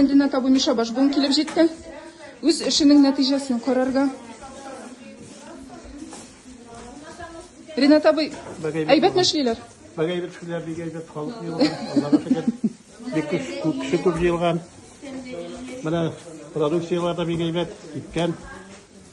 Кәнденә табу Миша Башбун килеп җитте. Үз эшенең нәтиҗәсен карарга. Ринат абый, әйбәтме эшлиләр? Бага әйбәт эшлиләр, бик әйбәт халык җыелган. Аллага шөкер. Бик күп күп кеше күп җыелган. Менә продукцияләр дә бик әйбәт, киткән.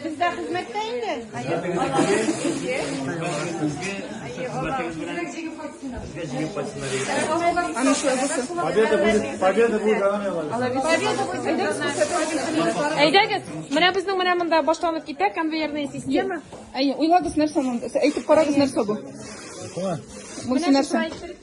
Бездә хезмәттә инде. Аны шулай булсын. Победа будет, победа будет за нами, Владимир. Әйдәгез, менә безнең менә монда башланып китә конвейерная система. Әйе, уйлагыз нәрсә монда? Әйтеп карагыз нәрсә бу? Менә нәрсә?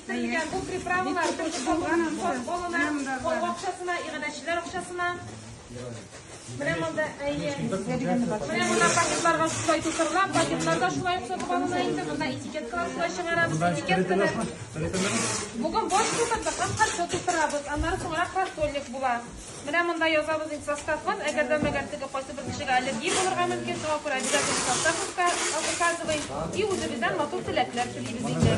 Сөрелгән бу приправалар төрле салган ансат балалар, ул акчасына, игадәчеләр акчасына. Менә монда әйе. Менә монда пакетларга шулай тутырыла, пакетларда шулай ук сатып алына инде, монда этикеткалар шулай чыгарабыз, этикетканы. Бүген бош тутырдык, һәм каршы тутырабыз, аннары соңрак картонник була. Менә монда язабыз инде составын, әгәр дә мәгәр теге кайсы бер кешегә аллергия булырга мөмкин, шуңа күрә обязательно состав указываем. И үзебездән матур теләкләр телибез инде.